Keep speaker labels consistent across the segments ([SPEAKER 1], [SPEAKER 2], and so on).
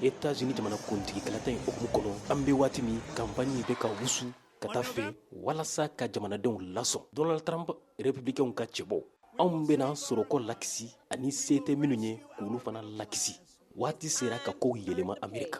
[SPEAKER 1] États-Unis jamana kuntigi kalata in hukumu kɔnɔ an bɛ waati min kanpanni bɛ ka wusu ka taa fɛ walasa ka jamanadenw lasɔn donald trump républicainw ka cɛbɔ anw bɛna sɔrɔko lakisi ani se tɛ minnu ye k'olu fana lakisi waati sera ka kow yɛlɛma amerika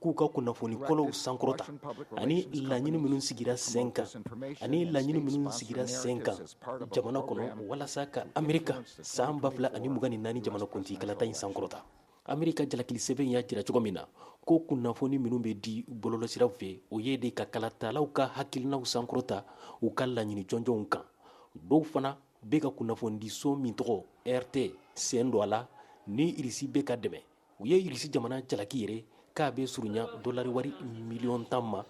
[SPEAKER 1] k'u ka kunnafoni kolonw sankɔrɔta ani laɲini minnu sigira sen kan jamana kɔnɔ walasa ka amerika san ba fila ani mugan ni naani jamanakuntigi kalata in sankɔrɔta amerika jalakilisɛbɛn y'a jira cogo min na ko kunnafoni minnu bɛ di bɔlɔlɔsiraw fɛ o ye de ka kalatalaw ka hakilinaw sankɔrɔta u ka laɲini jɔnjɔnw kan dɔw fana bɛ ka kunnafonidiso min tɔgɔ rt sen don a la ni irisi bɛ ka dɛmɛ u ye irisi jamana jalaki yɛrɛ k'a bɛ surunya dɔlari wari miliyɔn tan ma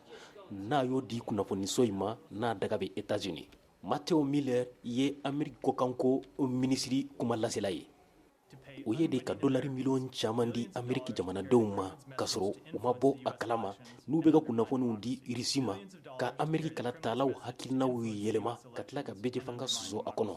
[SPEAKER 1] n'a y'o di kunnafoniso in ma n'a daga bɛ États-Unis matthew miller ye ameriki kɔkanko minisiri kuma lasela ye o ye de ka dɔlari miliyɔn caman di ameriki jamanadenw ma k'a sɔrɔ u ma bɔ a kala ma n'u bɛ ka kunnafoniw di irisi ma ka ameriki kalatalaw hakilinaw yɛlɛma ka tila ka bɛɛjɛfanga soso a kɔnɔ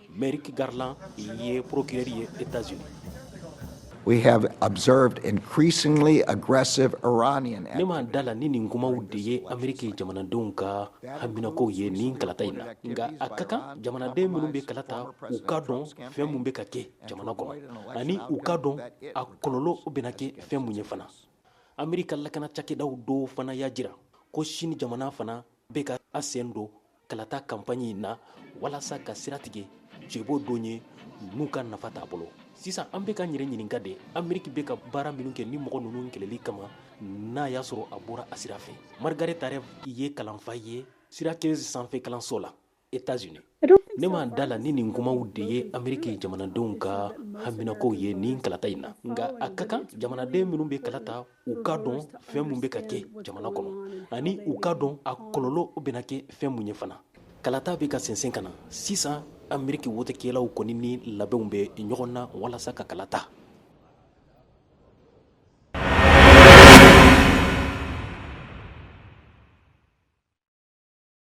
[SPEAKER 1] Merrick Garland ye procureur ye
[SPEAKER 2] États-Unis. We have observed increasingly aggressive Iranian ne ma da la ni nin
[SPEAKER 1] kumaw de ye Ameriki jamanadenw ka haminakow ye nin kalata in na nka a ka kan jamanaden minnu bɛ kalata u ka dɔn fɛn mun bɛ ka kɛ jamana kɔnɔ ani u ka dɔn a kɔlɔlɔ bɛna kɛ fɛn mun ye fana Ameriki ka lakana cakɛdaw dɔw fana y'a jira ko Sini jamana fana bɛ ka a sen don kalata kanpaɲi in na walasa ka sira tigɛ cɛbɔ dɔ ye n'u ka nafa t'a bolo sisan an bɛ ka yɛrɛ ɲininka de ameriki bɛ ka baara minnu kɛ nin mɔgɔ ninnu kɛlɛli kama n'a y'a sɔrɔ a bɔra a sira fɛ margaret talev ye kalanfa ye syracuse sanfɛ kalanso la États-Unis ne ma da la ni nin kumaw de ye ameriki jamanadenw ka haminakow ye nin kalata in na nka a ka kan jamanaden minnu bɛ kalata u ka dɔn fɛn mun bɛ ka kɛ jamana kɔnɔ ani u ka dɔn a kɔlɔlɔ bɛna kɛ fɛn mun ye fana kalata bɛ ka sɛnsɛn ka na sisan ameriki wotekɛlaw kɔni ni labɛnw bɛ ɲɔgɔn na walasa ka kalata